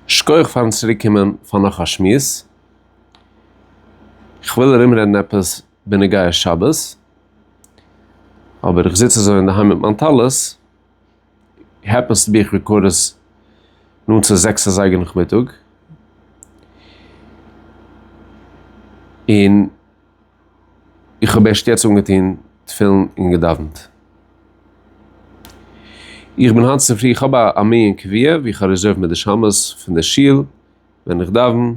שכוח פארן צוריק קומען פאר נאך א שמועס, כ'וויל ארום רעדן עפעס בנוגע שבת, אבער איך זיץ אזוי אינדערהיים מיט מיין טלית, העפענסטו בי איך רעקארד עס נאנט צו זעקס אזייגער נאכמיטאג, און. איך האב ערשט יעצט אנגעטון תפילין און געדאווענט. איך בין היינט צופרי, איך האב א מנין קביעה ווי איך האב רעזערוו מיט די שמות פון די שול ווען איך דאווען,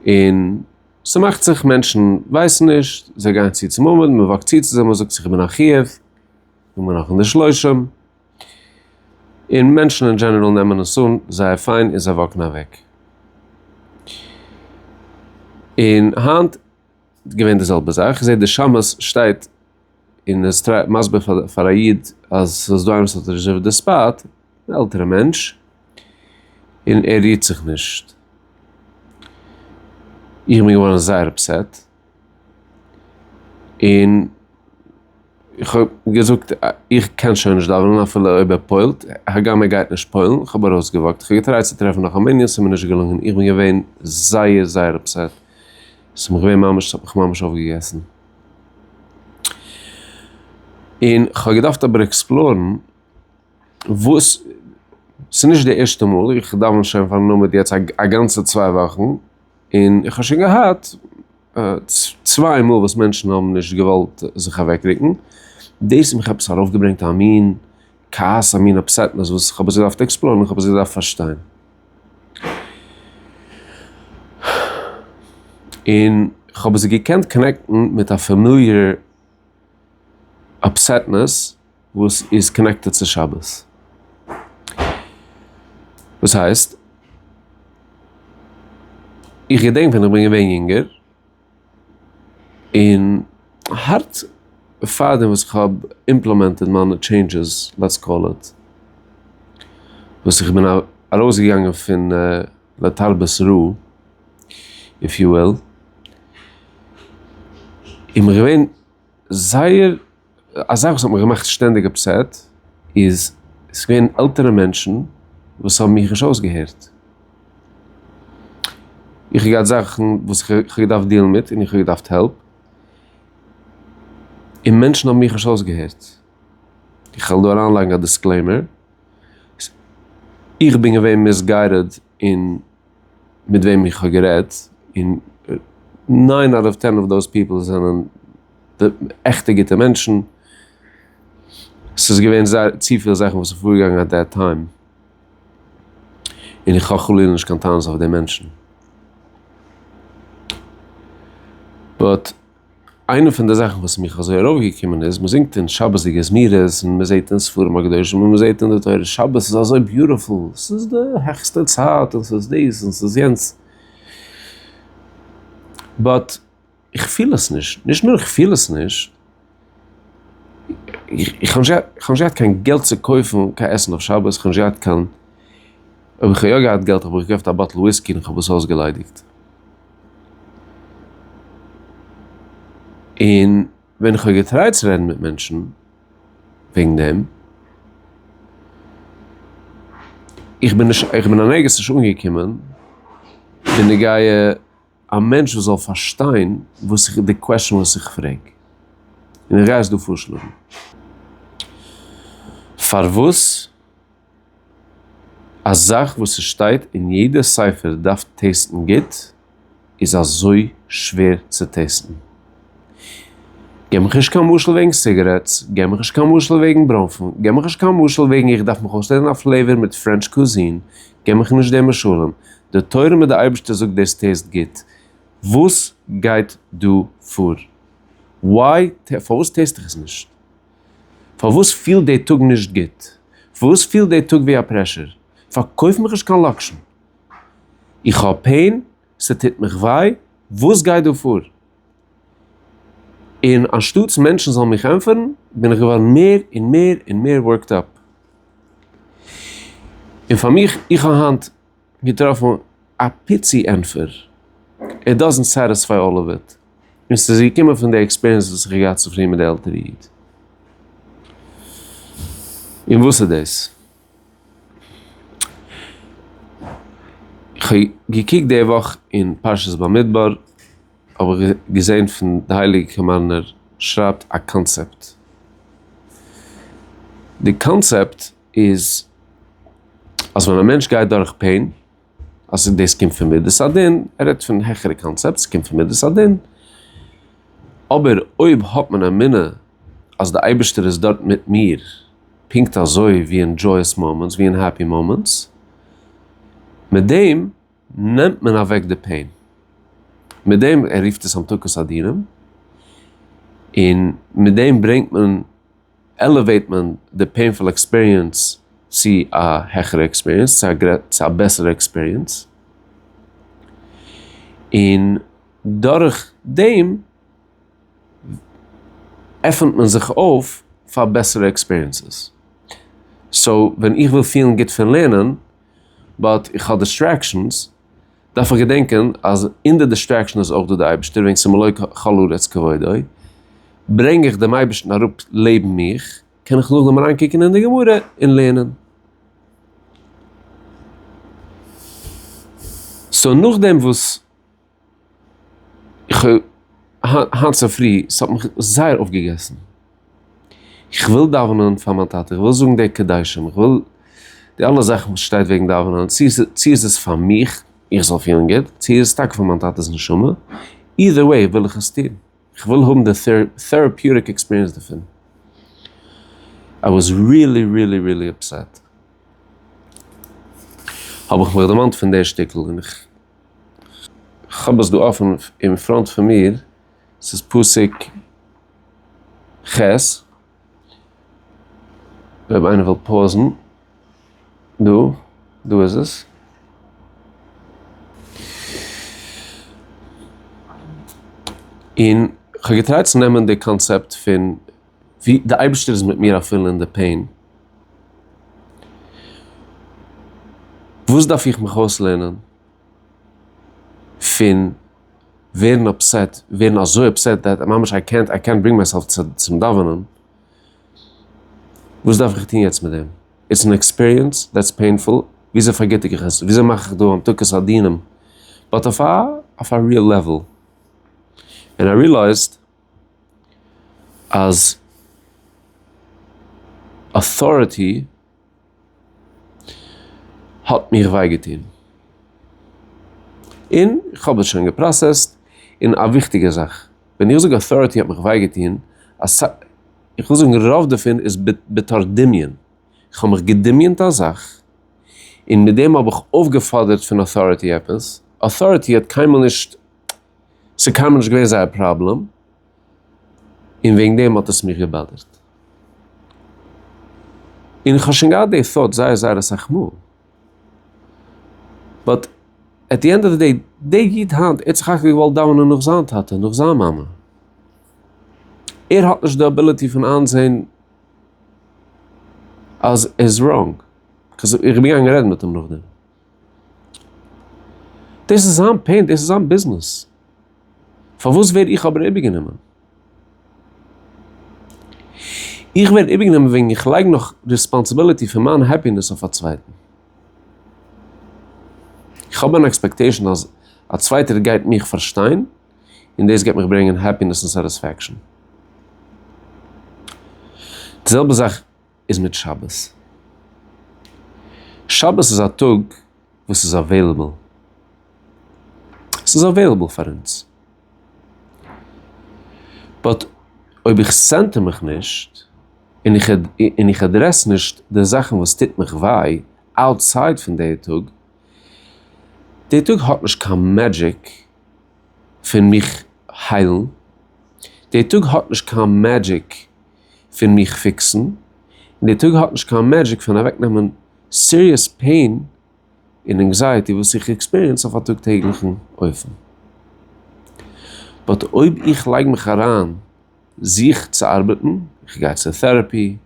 און ס'מאכט זיך מענטשן ווייסן נישט, זיי גייען צו צום עמוד, מ'וואקט צו צו זיי, מ'זאגט זיך איבער נאך חיוב, זאג מיר נאך און די שלושים. און מענטשן אין דזשענעראל נעמען עס אן זייער פיין און זיי וואקן אוועק. און היינט געווען די זעלבע זאך, כ'זע די שמשׂ שטייט און איז טרייט מסביר פאר פאר א איד אז ס'איז דא איינער וואס האט רעזשערווד די ספאט, אן עלטערע מענטש, און ער רירט זיך נישט. איך בין געווארן זייער אפסעט. און איך האב געזאגט איך קען שוין נישט דאווענען אפילו אויב ער פוילט, הגם ער גייט נישט פוילן, איך האב ארויסגעוואקט, איך האב געטרייט צו טרעפן נאך א מנין, ס'איז מיר נישט געלונגען, איך בין געווען זייער זייער אפסעט, ס'האט מיך געווען ממש, ס'האט מיך ממש אויפגעגעסן, און כ'האב געדארפט אבער עקספלארן וואס, ס'נישט די ערשטע מאל, איך דאווען שוין פארן עמוד יעצט א גאנצע צוויי וואכן, און איך האב שוין געהאט צוויי מאל וואס מענטשן האבן נישט געוואלט זיך אוועקרוקן, דאס האט מיך עפעס ארויפגעברענגט א מין כעס א מין אפסעטנעס וואס איך האב עס געדארפט עקספלארן איך האב עס געדארפט פארשטיין. און איך האב עס געקענט קאנעקטן מיט א פאמיליער אפסעטנעס. וואס איז קאנעקטעד צו שבת. דאס הייסט. איך געדענק ווען איך בין געווען יונגער. און הארט פאר דעם וואס כ'האב אימפלעמענטעד מיינע טשעינדזשעס לעטס קאל איט. וואס איך בין ארויס געגאנגען פון לתרבות רעה איף יו וויל. און איך בין געווען זייער. א זאך וואס האט מיך געמאכט שטענדיג אפסעט איז ס'איז געווען עלטערע מענטשן וואס האבן מיך נישט אויסגעהערט. איך האב געהאט זאכן וואס איך האב געדארפט דילן מיט און איך האב געדארפט העלפ, און מענטשן האבן מיך נישט אויסגעהערט. איך וועל דא אריינלייגן א דיסקלעימער, איך בין געווען מיסגיידעד און. מיט וועם איך האב גערעדט, און ניין אוט אוו טען אוו דאוז פיפעל זענען עכטע גוטע מענטשן, ס'איז געווען זייער צופיל זאכן וואס איז פארגעגאנגען עט דעט טיים, און איך האב חלילה נישט קיין טענות אויף די מענטשן, באט. איינע פון די זאכן וואס מיך אזוי ארויף געקומען איז מ'זינגט אין שבת'דיגע זמירות און מ'זעהט אין ספרים הקדושים און מ'זעהט אין די תורה שבת איז אזוי ביוטיפול ס'איז די העכסטע צייט און ס'איז דאס און ס'איז יענץ באט איך פיל עס נישט, נישט נאר איך פיל עס נישט איך האב נישט געהאט קיין געלט צו קויפן קיין עסן אויף שבת, איך האב נישט געהאט קיין אויב איך האב יא געהאט געלט האב איך געקויפט א באטל וויסקי און איך האב עס אויסגעליידיגט. און ווען איך האב געטרייט צו רעדן מיט מענטשן וועגן דעם, איך בין נישט, איך בין און ערגעץ נישט אנגעקומען בנוגע א מענטש וואס זאל פארשטיין וואס איך, די קוועשאן וואס איך פרעג. און איך גיי עס דא פארשלאגן. פארוואס? א זאך וואס ס'שטייט אין יעדע ספר דארף טעסטן גוט, איז אזוי שווער צו טעסטן? גיב מיך נישט קיין משל וועגן סיגערעטס, גיב מיך נישט קיין משל וועגן ברוינפן, גיב מיך נישט קיין משל וועגן איך דארף מיך אויסלערנען א פלעיוואר מיט פרענטש קוזין, גיב מיך נישט די משלים, די תורה מיט די אייבערשטער זאגט דאס טעסט גוט, וואס גייט דא פאר? וואי, פארוואס טעסט איך עס נישט? פארוואס פילט די טאג נישט גוט? פארוואס פילט די טאג ווי א פרעשור? פארקויף מיך נישט קיין לאקשן. איך האב פעין, ס'טוט מיך וויי, וואס גייט דא פאר? און אנשטאטס מענטשן זאלן מיך ענטפערן, בין איך געווארן מער און מער און מער ווארקד אפ. און פאר מיך, איך האב היינט. געטראפן א פיצי ענטפער, איט דאזענט סעטיספיי אלל אוו איט, און ס'איז געקומען פון די עקספיריענס וואס איך האב געהאט צופרי מיט די עלטערע איד. און וואס איז דאס? איך האב געקוקט די וואך אין פרשת במדבר, האב איך געזען פון די הייליגע קאמארנער שרייבט א קאנצעפט, די קאנצעפט, איז אז ווען א מענטש גייט דורך פעין, אז דאס קומט פון מדת הדין, ער רעדט פון העכערע קאנצעפט, עס קומט פון מדת הדין, אבער אויב האט מען אמונה אז די אייבערשטער איז דארט מיט מיר, פונקט אזוי ווי אין דזשאויעס מאמענטס, ווי אין העפי מאמענטס, מיט דעם נעמט מען אוועק די פעין, מיט דעם, ער רופט עס המתקות אדירים, און מיט דעם ברענגט מען, עלעוועיט מען די פעינפול עקספיריענס צו א העכערע עקספיריענס, צו א בעסערע עקספיריענס, און דורך דעם עפענט מען זיך אויף פאר בעסערע עקספיריענסעס. סאו ווען איך וויל פילן גוט פון לערנען, באט איך האב דיסטרעקשאנס, דארף איך געדענקען אז אין די דיסטרעקשן איז אויך דא די אייבערשטער וועגן ס'מלא כל הארץ כבודו, ברענג איך דעם אייבערשטן אראפ לעבן מיך, קען איך נאכדעם אריין קוקן אין די גמרא און לערנען. סאו נאכדעם וואס איך האב היינט צופרי, ס'האט מיך זייער אויפגעגעסן. איך וויל דאווענען פאר מיין טאטע, איך וויל זאגן די קדישים, איך וויל די אלע זאכן וואס שטייט וועגן דאווענען, צו צו איז עס פאר מיך איך זאל פילן גוט, צו איז עס טאקע פאר מיין טאטע'ס נשמה, אידער וועי וויל איך עס טון, איך וויל האבן די טעראפיוטיק עקספיריענס דערפון. איי וואס ריעלי ריעלי ריעלי אפסעט, האב איך מיך דערמאנט פון די שטיקל, און איך האב עס דא אפן אין פראנט פון מיר. ס'איז פסוק ח', אויב איינער וויל פאוזן, דא, דא איז עס. און כ'האב געטרייט צו נעמען די קאנצעפט פון ווי די אייבערשטער איז מיט מיר אפילו אין די פעין. וואס דארף איך מיך אויסלערנען פון ווערן אפסעט, ווערן אזוי אפסעט דעט ממש איי קענט איי קענט ברינג מייסעלף צום דאווענען, וואס דארף איך טון יעצט מיט דעם? איטס אן עקספיריענס דעטס פעינפול, וויאזוי פארגיטיג איך עס? וויאזוי מאך איך דא המתקת הדינים? באט אויף א אויף א ריעל לעוועל. און איי ריעלייזד אז אויטאריטי. האט מיר וויי געטון, און כ'האב עס שוין געפראסעסט, און א וויכטיגע זאך, ווען איך זאג אויטאריטי האט מיך וויי געטון, איך וויל זאגן רוב דערפון איז בתור דמיון, כ'האב מיך געדמיונ'ט א זאך, און מיט דעם האב איך אויפגעפאדערט פון אויטאריטי עפעס, אויטאריטי האט קיינמאל נישט, ס'איז קיינמאל נישט געווען זייער פראבלעם, און וועגן דעם האט עס מיך געבאדערט. און איך האב שוין געהאט די thought זייער זייער אסאך מאל. באט עט די ענד אוו די דעי, די איד היינט, ער האט סך הכל געוואלט דאווענען נאך זיין טאטע, נאך זיין מאמע. ער האט נישט די אביליטי פון איינזעהן אז ער איז ראנג. איך בין געגאנגען רעדן מיט אים נאכדעם. דאס איז זיין פען, דאס איז זיין ביזנעס. פארוואס ווער איך אבער איבערגענומען? איך ווער איבערגענומען וועגן איך לייג נאך ריספאנסיביליטי פון מיין העפינעס אויף א צווייטן. איך האב אן עקספעקטעישן אז א צווייטער גייט מיך פארשטיין, און דאס גייט מיך ברענגען העפינעס און סאטיספעקשאן. די זעלבע זאך. איז מיט שבת. שבת איז א טאג וואס איז אוועילעבל. ס'איז אוועילעבל פאר אונז. באט אויב איך סענטער מיך נישט, און איך און איך עדרעס נישט די זאכן וואס טוט מיך וויי אוטסייד פון די טאג, די טאג האט נישט קיין מעדזשיק פון מיך היילן, די טאג האט נישט קיין מעדזשיק. פון מיך פיקסן, און די טאג האט נישט קיין מעדזשיק פון אוועקנעמען סיריעס פעין און ענקזייעטי וואס איך עקספיריענס אויף א טאג טעגליכן אופן. באט אויב איך לייג מיך אריין זיך צו ארבעטן, איך גיי צו טעראפי,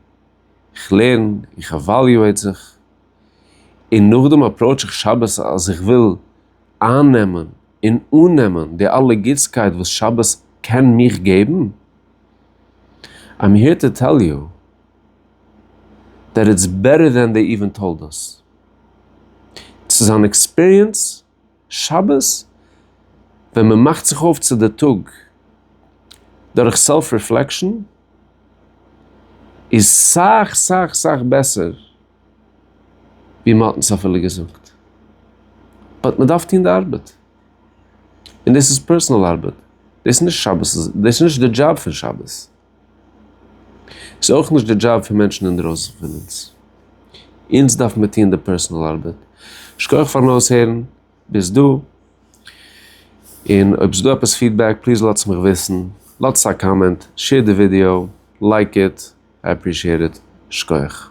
איך לערן, איך עוואליועיט זיך, און נאכדעם אפראוטש איך שבת אז איך וויל אייננעמען און אננעמען די אלע גוטסקייט וואס שבת קען מיך געבן, איים היער טו טעל יו דעט איטס בעטער דען דעי איווען טאלד אס. ס'איז אן עקספיריענס שבת ווען מ'מאכט זיך אויף צו די טאג דורך סעלף ריפלעקשאן איז סאך סאך סאך בעסער. ווי מען האט אונז אפילו געזאגט, באט מען דארף טון די ארבעט, און דאס איז פערסאנעל ארבעט, דאס איז נישט שבת, דאס איז נישט די דזשאב פון שבת, ס'איז אויך נישט די דזשאב פון מענטשן אינדרויסן פון אונז, אונז דארף מען טון די פערסאנעל ארבעט, שכח פארן אויסהערן ביז דא, און אויב ס'דא עפעס פידבעק פליז לאטס מיך וויסן, לאטס א קאמענט, שעיר די ווידיאו, לייק איט, איי עפרישיעט איט, שכח.